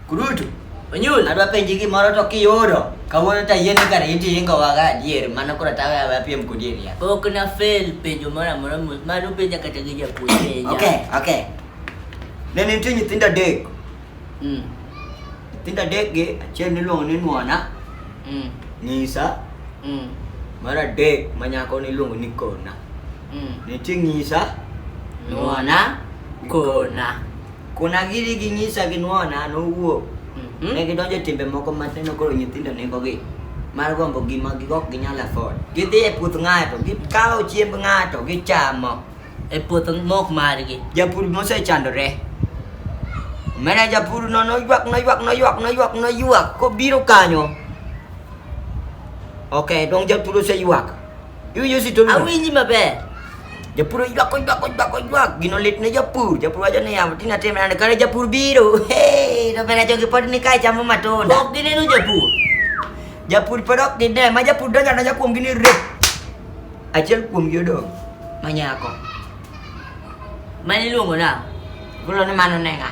Kurutu. Onyul. Adwa penji gimoro to kiyudo. Kawuono ta yeni kar iti ingo waga adier mana kura tawe awe apiem kudier ya. Ok na fail penjo moro amora mano penja kata gi japuonj. Okay, okay. Ne nitie nyithindo adek. Mm. Nyithindo adek gi achiel niluongo ni Nuona. Mm. Nyisa. Mm. Mar adek ma nyako niluongo ni Kona. Mm. Nitie Nyisa. Nuona. Kona. Kuna giri gi nyisa gi nuona nowuok mm-hmm. ne gidonjo e timbe moko maneno koro nyithindo negogi mar gombo gima ok ginyal afford. Gidhi e puoth ng'ato, gikawo chiemb ng'ato, gichamo. E puoth mok margi. Japur mosechandore. Mene japur no noywak noywak noywak noywak noywak kobiro kanyo. Ok, dong japur oseywak. Yo yo si tolu. Awinji maber. Japur oywak oywak oywak oywak gino lit ne japur japur wacho ni yawa tina tim nade kare japur biro hey to bende jogi pod ni kae chamo matunda ok gineno japur japur pod ok gine ma japur donjo donjo kuom gini rep achiel kuom gi odong ma nyako mane iluongo na gulo ni mano ne ng'a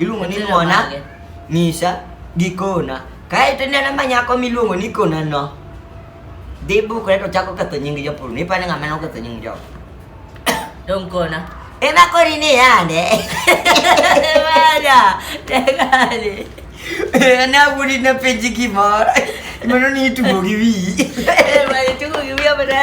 Iluongo ni ng'ona, ng'isa gi kona. Kae to ineno ma nyako miluongo ni kona no. Dhi bukre to chako ketho nying jopur. Ni pa ni ng'ama no ketho nying jopur. Dong kona. Ema kori ni yande. Wala. Tegani. Na budi na peji ki mor. Mano ni tugo gi wi. Ema tugo gi wi abada.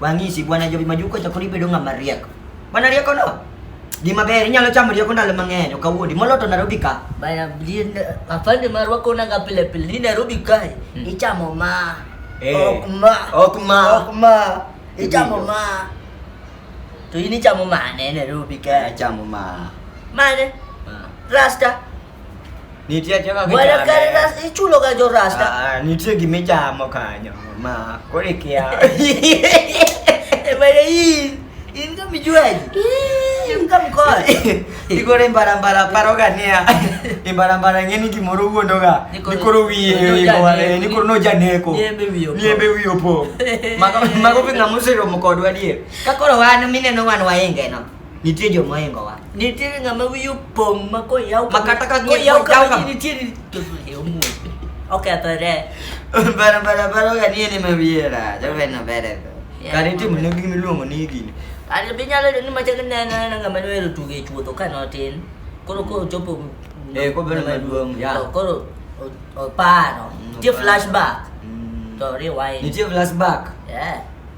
Wang'isi bwana Jobi Majuko chako ni bedo ng'ama riek. Bwana rieko no. Gima ber inyalo chamo rieko ndalo mang'eny ok awuondi molo to Nairobi ka. Bana blin afande marwa kona nga pile pile ni Nairobi kae mm. ichamo ma. Eh. Ok ma. Ok ma. Ok ma. Ichamo ma. To ini chamo mane Nairobi kae? Chamo ma. Mane? Rasta. Nitie joga gi Wala kare na ichulo ga jo rasta. Ah, nitie gimi chamo kanyo. Ma kore kia. Ebare hii. In kama juaji. In kama kwa. Ikore mbara mbara paro gania. Imbara mbara ngeni kimoro wuondo ga. Nikoro wiye ibore. Nikoro no janeko. Niembe wiyo. Niembe wiyo po. Mago mago pinga musero mokodwa die. Kakoro wan mineno wan wainge no. Nitie jo moingowa. Nitie ng'ama wiyo pong' ma koyaw ma kata ka koyaw ka nitie ni to yo mu. Okay, atore. Bara bara bara ga nie ni mawiera. Jo ben no bere. Kare tim ne gimi luongo ni gini. Ari bi nyalo ni ma chak ne na na ng'ama noero tuge chuodho ka notin. Koro ko chopo Eh, ko bere maduong'. Ya. Koro oparo. Nitie flashback. To rewind. Nitie flashback. Yeah.